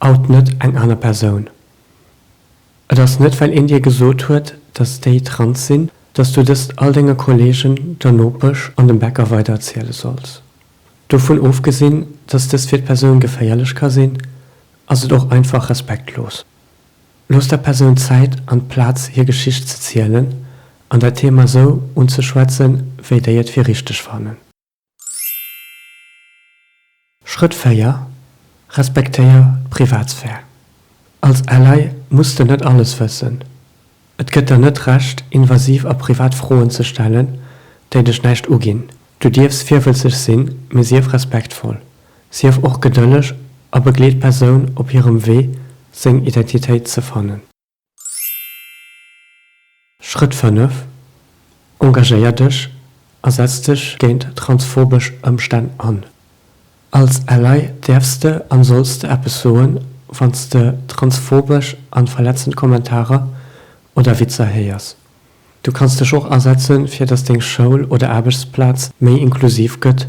Out net eng aner Persoun. Et ass net, well een dir gesot huet, dass déi trans sinn, dass du dëst all denge Kollegen, der Nopesch an dem Bäcker weidererziele solls. Dovun ofgesinn, dass dëst fir d'Persoun geféierlech ka sinn, ass et och einfach respektlos. Loosst der Persoun Zäit an d'Plaz hir Geschicht ze zielen an dat Thema sou unzeschwätzen, wéi déi et fir richteg fannen. Schrëtt 4, Respektéier d'Privatsphär. Als Ally muss de net alles wëssen. Et gëtt der net Recht, invasiv a privat Froen ze stellen, déi dech näischt uginn. Du dierfs virwëlzeg sinn, mee sief respektvoll. Sief och gedëlleg a begleet d'Persoun op hirem Wee, seng Identitéit ze fannen. Schrëtt 5, Engagéier dech a setz dech géint transphobesch Ëmstänn an. Als Ally däerfs de an solls de eppes soen, wanns de transphobesch an verletzend Kommentarer oder Witzer héiers. Du kanns dech och asetzen fir dass deng Schoul oder Aarbechtsplaz méi inklusiv gëtt,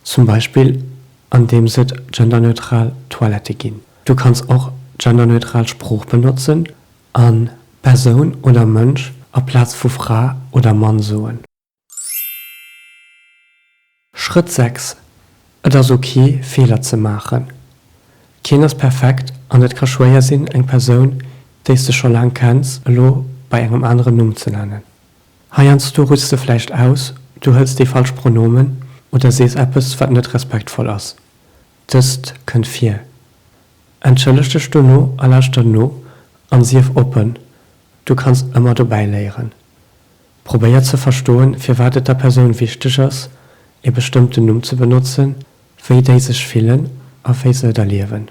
zum Beispill an deems et genderneutral Toilette ginn. Du kanns och genderneutral Sprooch benotzen an Persoun oder Mënsch aplaz vu Fra oder Mann soen. Schrëtt 6, Et ass ok Feeler ze maachen. Keen ass perfekt an et ka schwéier sinn eng Persoun déi's de scho laang kenns elo bei engem aneren Numm ze nennen. Heiansdo rutschs de vläicht aus, du hëls déi falsch Pronomen oder sees eppes wat net respektvoll ass. Dëst kënnt vir. Entschëlleg dech dono a lauschter no an sief oppen, du kanns ëmmer dobäi léieren. Probéier ze verstoen, firwat et der Persoun wichteg ass, ee bestëmmten Numm ze benotzen, wéi déi sech fillen a wéi se et erliewen.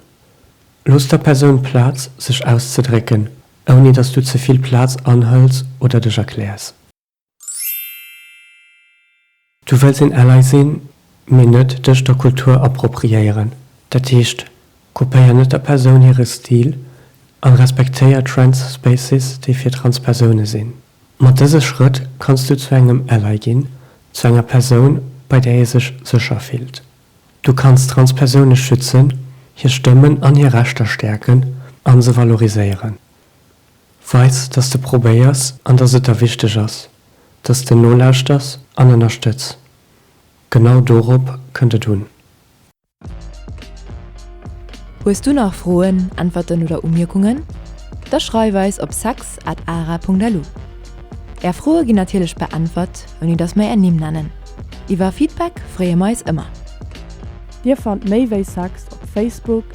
Looss der Persoun Plaz, sech auszedrécken, ouni datt s du ze vill Plaz anhëls oder dech erkläers. Du wëlls een Ally sinn, mee net dech der Kultur appropriéieren. Dat heescht, kopéier net der Persoun hire Stil an respektéier Trans Spaces, déi fir trans Persoune sinn. Mat dëse Schrëtt kanns du zu engem Ally ginn, zu enger Persoun, bei där ee sech sécher fillt. Du kanns trans Persoune schützen, hir Stëmmen an hir Rechter stäerken a se valoriséieren. Weis, dass de probéiers an dass et der wichteg ass, dass de nolauschters an ënnerstëtz. Genau dorop kënnt et un. Hues du nach Froen, Äntwerten oder Umierkungen? Da schreif eis op sex at ara Punkt lu. Är Froe ginn natierlech beäntwert, ouni dass mer är Nimm nennen. Iwwer Feedback freeë mer eis ëmmer. Dir fannt méi wéi sex op Facebook,